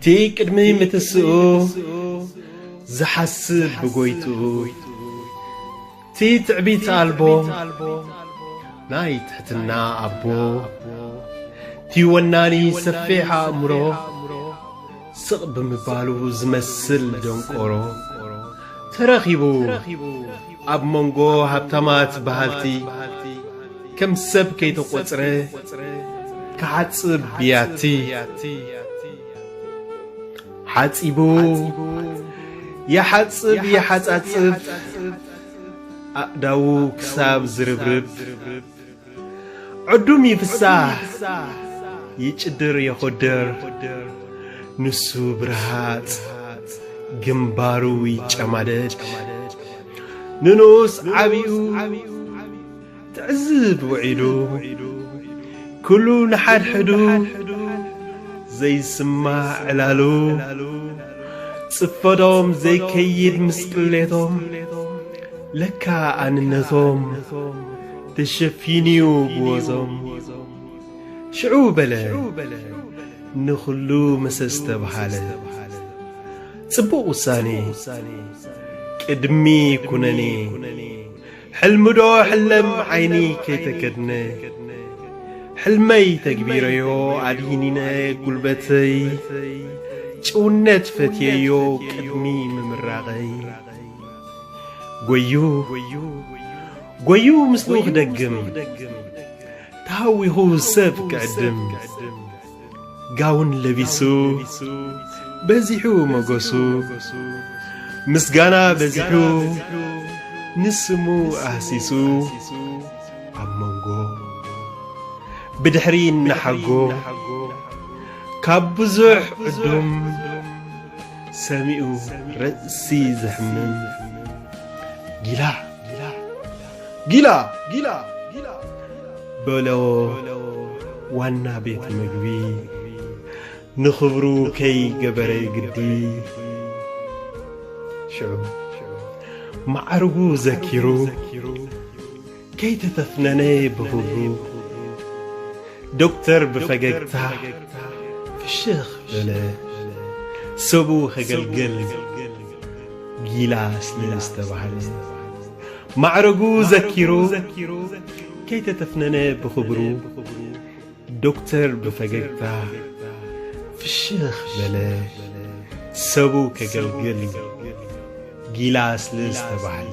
እቲ ቅድሚ ምትስኡ ዝሓስብ ብጐይትኡ እቲ ትዕቢት ኣልቦ ናይ ትሕትና ኣቦ እቲ ወናኒ ሰፊሕ ኣእምሮ ስቕ ብምባሉ ዝመስል ደንቆሮ ተረኺቡ ኣብ መንጎ ሃብታማት በሃልቲ ከም ሰብ ከይተቖጽረ ክሓጽብ ብያቲ ሓጺቡ ይሓጽብ ይሓጻጽፍ ኣእዳዉ ክሳብ ዝርብርብ። ዕዱም ይፍሳህ ይጭድር የኾድር ንሱ ብርሃጽ ግንባሩ ይጨማደድ ንንኡስ ዓቢኡ ትዕዝብ ውዒሉ ኩሉ ንሓድሕዱ ዘይስማዕ ዕላሉ ጽፈዶም ዘይከይድ ምስ ቅሌቶም ለካ ኣንነቶም ተሸፊንዩ ብወዞም ሽዑ በለ ንኹሉ ምሰ ዝተብሃለ ጽቡቕ ውሳኔ ቅድሚ ኩነኔ ሕልምዶ ሕለም ዓይኒ ከይተከድነ ሕልመይ ተግቢረዮ ኣድሂኒነ ጉልበተይ ጭውነት ፈትየዮ ቅድሚ ምምራቐይ ጎዩ ጎዩ ምስሉ ክደግም ተሃዊኹ ሰብ ክዕድም ጋውን ለቢሱ በዚሑ መጎሱ ምስጋና በዚሑ ንስሙ ኣህሲሱ ኣብ መንጎ ብድሕሪ እናሓጎ ካብ ብዙሕ ዕዱም ሰሚኡ ርእሲ ዘሕምም ጊላ ጊላ ጊላ በሎ ዋና ቤት ምግቢ ንኽብሩ ከይገበረ ግዲ ሽዑ ማዕርጉ ዘኪሩ ከይተተፍነነ ብሁብሩ ዶክተር ብፈገግታ ፍሽኽ በለ። ሰቡ ከገልግል ጊላ ስለ ዝተባህለ ማዕረጉ ዘኪሩ ከይተተፍነነ ብኽብሩ ዶክተር ብፈገግታ ፍሽኽ በለ። ሰቡ ከገልግል ጊላ ስለ ዝተባህለ